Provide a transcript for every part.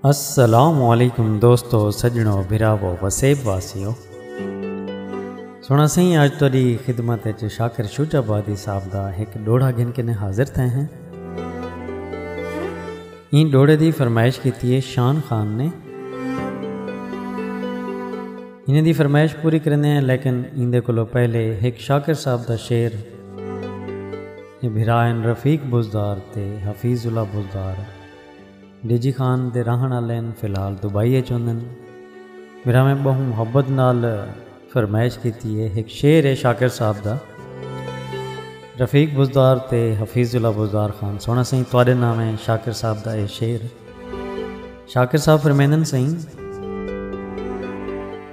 السلام علیکم دوستو سجنو بھراو وسیب واسیو سونا سائیں اج تہاڈی خدمت وچ شاکر شوج آبادی صاحب دا ایک ڈوڑا گھن کے حاضر تھے ہیں این ڈوڑے دی فرمائش کیتی ہے شان خان نے انہیں دی فرمائش پوری کرنے ہیں لیکن ان دے کولو پہلے ایک شاکر صاحب دا شعر اے بھرا ہن رفیق بزدار تے حفیظ اللہ بزدار ڈیجی خان دے رہݨ آلے ہن فی الحال دبئی اچ ہوندن۔ بھراویں بہوں محبت نال فرمائش کیتی ہے ہک شعر ہے شاکر صاحب دا رفیق بزدار تے حفیظ اللہ بزدار خان سوہݨا سئیں تہاݙے نام ہے شاکر صاحب دا اے شعر شاکر صاحب فرمیندن سئیں۔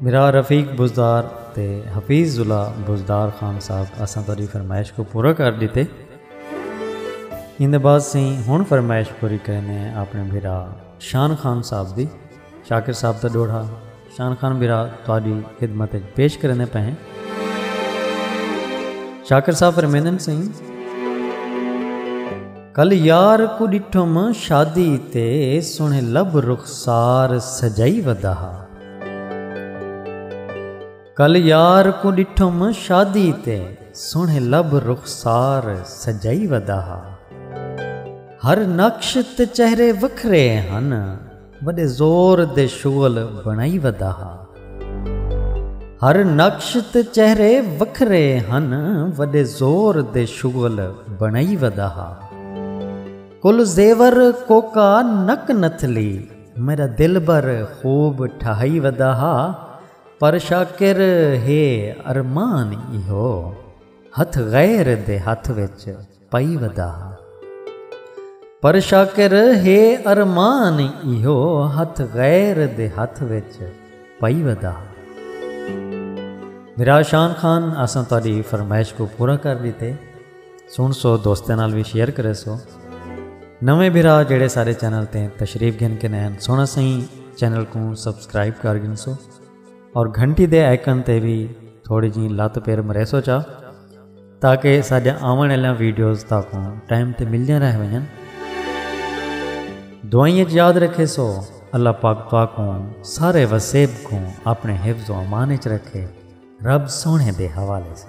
میرا رفیق بزدار تے حفیظ ضلع بزدار خان صاحب اساں تہاڈی فرمائش کوں پورا کر ڈتے ایندے بعد سیں ہن فرمائش پوری کریندے ہیں اپنے بھرا شان خان صاحب دی شاکر صاحب دا ڈوہڑا شان خان بھرا تہاڈی خدمت اچ پیش کریندے پئے ہیں شاکر صاحب فرمیندن سیں کل یار کوں ݙٹھم شادی تے سوہݨے لب رخسار سجائی ودا ہا۔ کل یار کوں ݙٹھم شادی تے سوہݨے لب رخسار سجائی ودا ہا۔ ہر نقش تے چہرے وکھرے ہن وݙے زور دے شغل بݨائی ودا ہا۔ ہر نقش تے چہرے وکھرے ہن وݙے زور دے شغل بݨائی ودا ہا۔ کل زیور کوکا نک نتھلی میݙا دلبر خوب ٹھہائی ودا ہا پر شاکر ہے ارمان ایہو ہتھ غیر دے ہتھ وچ۔ پئی ودا ہا۔ پر شاکر ہے ارمان ایہو ہتھ غیر دے ہتھ وچ پئی ودا ہا۔ میرا شان خان اساں تہاڈی فرمائش کوں پورا کر ڈیتے سن سو دوستاں نال وی شیئر کرے سو نویں بھرا جیڑے سارے چینل تے تشریف گھن کے نین سونا سائیں چینل کوں سبسکرائب کر گھن سو اور گھنٹی دے آئیکن تے بھی تھوڑی جی لت پیر مرے سو چا تاکہ ساڈے آون والیاں ویڈیوز تاکوں ٹائم تے ملدیاں رہ ونجن دعائیں وچ یاد رکھے سو اللہ پاک تاکوں سارے وسیب کو اپنے حفظ و امان وچ رکھے رب سونے دے حوالے سے